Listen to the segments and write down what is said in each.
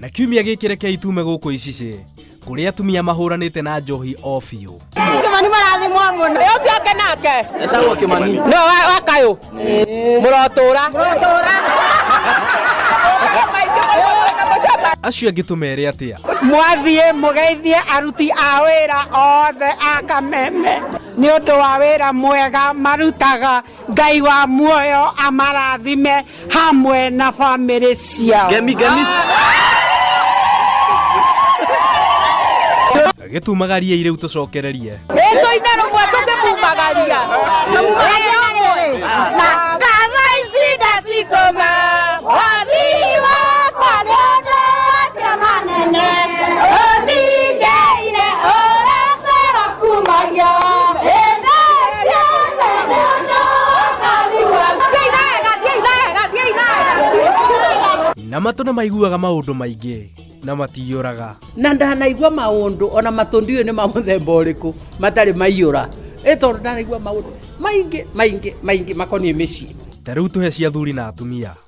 na kiumia gĩkĩ rekei tume gũkũ icicĩ kũrĩa atumia mahũranĩte na njohi o biũ kimani marathimwo mũno ĩ ũcio ake nake etagwo kimani no wa kayũ mũrotũra acio angĩ tũmere atĩa mwathiĩ mũgeithie aruti a wĩra othe a kameme nĩ ũndũ wa wĩra mwega marutaga Ngai wa muoyo amarathime hamwe na family ciao. Ngemi ngemi. Gĩtumagaria irĩu tũcokererie. Ĩtũ ina rũmwe tũkĩmumagaria. Na mumagaria rũmwe. Na kava ici ndacikoma. Wathi wakwa nĩ ũndũ wa cia manene. Ũningei na matũ nĩ maiguaga maũndũ maingĩ na matiyũraga na ndanaigua maũndũ ona matũ ndiũĩ nĩ ma mũthemba ũrĩkũ matarĩ maiyũra ĩ tondũ ndanaigua maũndũ maingĩ maingĩ maingĩ makoniĩ mĩciĩ ta rĩu tũhe cia athuri na atumia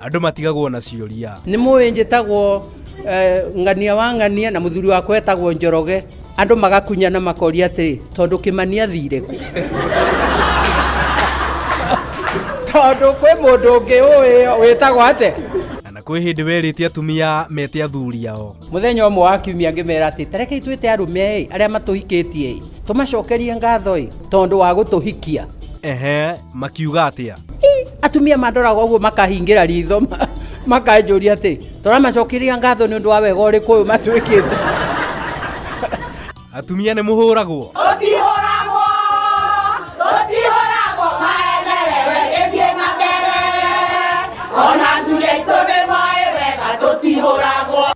andũ matigagwo na ciũria nĩ mũĩ njĩtagwo eh, ng'ania wa ng'ania na mũthuri wakwa etagwo njoroge andũ magakunyana makoria atĩrĩ tondũ kĩmani athire kũ tondũ kwĩ mũndũ ũngĩ ũĩ wĩtagwo atĩ na kwĩ hĩndĩ werĩte atumia mete athuri ao mũthenya ũmwe wa kiumia ngĩmera atĩ tarekei twĩte arũme ĩ arĩa matũhikĩtie ĩ tũmacokerie ngatho ĩ tondũ wa gũtũhikia ehe makiuga atä a atumia mandoraga ũguo makahingĩra ritho ma- makanjũria atĩ tũramacokeria ngatho nĩ ũndũ wa wega ũrĩkũ ũyũ matuĩkĩte atumia nä må hå ragwo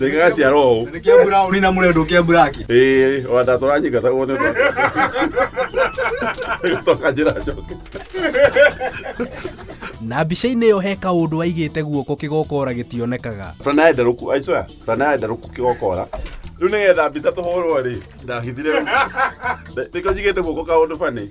Ndĩgaga cia roho. Nĩ kĩa brown na mũrenda kĩa black. Ĩĩ, o anda tũranyika ta guo nĩ ũndũ wa- Toka njĩra njoke. na mbica-inĩ ĩyo he kaũndũ aigĩte guoko kĩgokora gĩtionekaga Burana ya nderũku, I swear, burana ya nderũku kĩgokora. Rĩu nĩgetha mbica tũhũrwo rĩ, ndahithire. Nĩkĩo njigĩte guoko kaũndũ bani.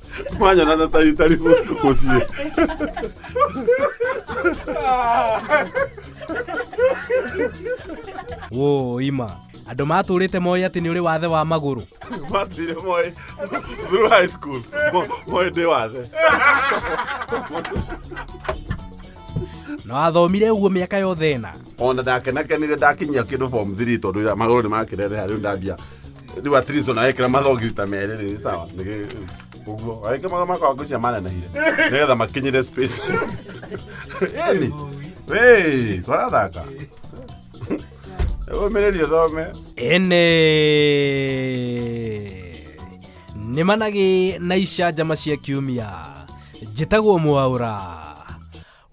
Manya na tari tari musie. Wo ima. Andũ matũrĩte moĩ atĩ nĩ ũrĩ wathe wa magũrũ. Matire moĩ through high school. Moĩ ndĩ wathe. Na wathomire ũguo mĩaka yothe ĩna. Ona ndakenakenire ndakinyia kĩndũ form 3 tondũ magũrũ nĩ makĩrereha rĩu ndambia rĩu at least ona wekĩra mathogi ta merĩ rĩ sawa nĩ ũguo wekĩra maga makwa ngũcia manenahire nĩgetha makinyire space yani wĩ twarathaka ũmĩrĩrie thome ene nĩ managĩ na icanjama cia kiumia njĩtagwo mwaũra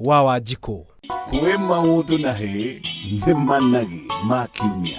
wa wanjikũ kwĩ maũndũ na hĩ nĩ managĩ ma kiumia